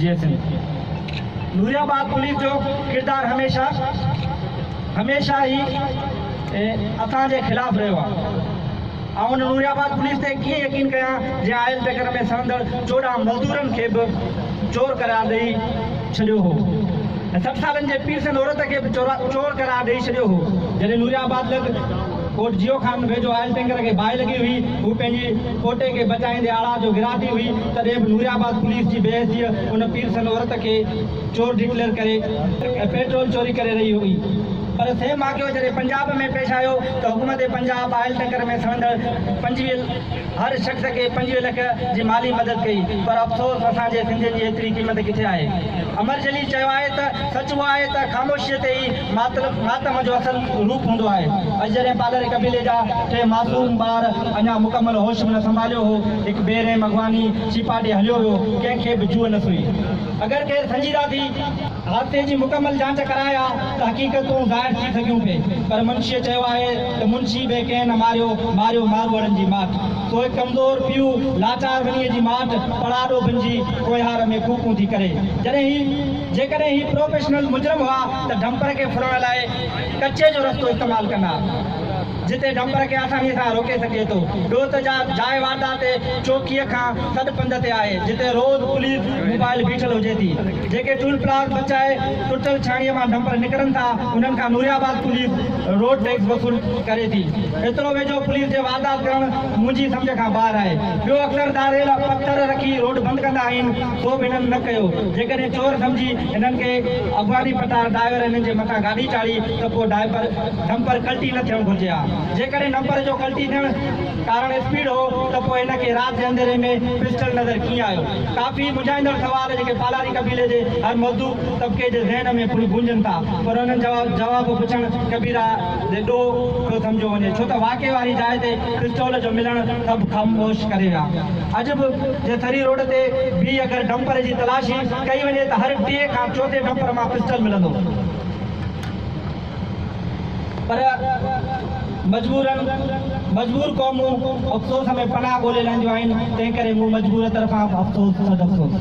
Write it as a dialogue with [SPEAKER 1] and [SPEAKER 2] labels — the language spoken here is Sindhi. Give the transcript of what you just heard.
[SPEAKER 1] جي سنڌ نوري آباد پوليس جو ڪردار هميشه هميشه ئي اسان جي خلاف رهيو آهي آئون ان نوري آباد پوليس تي ڪيئن يقين ڪيان جنهن آئل ٽيڪر ۾ سهندڙ چوڏهن مزدورن کي به چور قرار ڏئي ڇڏيو هو ۽ سٺ سالن جي پيرسن عورت کي به چور قرار ڏئي ڇڏيو هو جڏهن نوري آباد لڳ ڪوٽ جيو خان ويجهو آئل ٽينڪر کي باهه لڳي هئي، هو پنهنجي پوٽي کي بچائيندي آڙاء جو گرا ٿي هئي، تڏهن به نوري آباد پوليس جي بي حسيء ان پير سن عورت کي چور ڊڪليئر ڪري ۽ پيٽرول چوري ڪري رهي هئي، پر سيم واقعو جڏهن پنجاب ۾ پيش آيو ته حڪومت پنجاب آئل ٽينڪر ۾ سڙندڙ پنجويهه. هر شخص کي پنجويهه لک جي مالي مدد ڪئي پر افسوس اسان جي سنڌين جي ايتري قيمت ڪٿي آهي. امر جليل چيو آهي ته سچ اهو آهي ته خاموشيء تي ئي ماتم جو اصل روپ هوندو آهي. اڄ جڏهن پالري قبيلي جا ٽي معصوم ٻار اڃا مڪمل هوش به نه سنڀاليو هو هڪ بي رحم اغواني ڇيپا ڏي هليو ويو ڪنهن کي به جوء نه سئي. اگر ڪير سنجيده ٿي. حادثي جي مڪمل جاچ ڪرائي ها ته حقيقتون ظاهر ٿي سگهيون پي پر منشيء چيو آهي ته منشي به ڪنهن نه ماريو، ماريو ماڳوڙن جي ماٺ سو هڪ ڪمزور پيء لاچار ونيء جي ماٺ پڙاڏو بنجي ڪوهيار ۾ ڪوڪون ٿي ڪري جڏهن هي جيڪڏهن هي پروفيشنل مجرم هئا ته ڊمپر کي ڦرڻ لاء ڪچي جو رستو استعمال ڪندا جتي ڊمپر کي آساني سان روڪي سگهجي ٿو ڏوهه جا جاء واردات چوڪيء کان سڏ پنڌ تي آهي جتي روز پوليس موبائل بيٺل هجي ٿي. جيڪي ٽول پلازه بچائي ٽٽل ڇاڻيء مان ڊمپر نڪرن ٿا انهن کان Nooriabad police road tax وصول ڪري ٿي ايترو ويجهو پوليس جي واردات ڪرڻ منهنجي سمجهه کان ٻاهر آهي ٻيو اڪثر ڌاريل پٿر رکي روڊ بند ڪندا آهن سو به انهن نه ڪيو جيڪڏهن چور سمجهي انهن کي اڳواڻي پٽار ڊائيور انهن جي مٿان گاڏي چاڙهي ته پوء ڊائپر ڊمپر ڪلٽي نه ٿيڻ گهرجي ها جيڪڏهن ڊمپر جو ڪلٽي ٿيڻ ڪارڻ اسپيڊ هو ته پوء هن کي رات جي انڌيري ۾ پسٽل نظر ڪيئن آيو؟ ڪافي مونجهائيندڙ سوال جيڪي پالاري قبيلي جي هر مزدو طبقي جي ذهن ۾ پڻ گونجن ٿا پر انهن جا جواب پڇڻ ڪبيره جي ڏوهه پيو سمجهيو وڃي ڇو ته واقعي واري جاء تي پسٽول جو ملڻ سڀ خاموش ڪري ويا اڄ به جي سري روڊ تي بيهي اگر ڊمپر جي تلاشي ڪئي وڃي ته هر ٽئين کان چوٿين ڊمپر مان پسٽل ملندو. پر مجبورن مجبور قومون افسوس ۾ پناهه ڳولي لهنديون آهن، تنهنڪري مون مجبور طرفان به افسوس سڏ افسوس.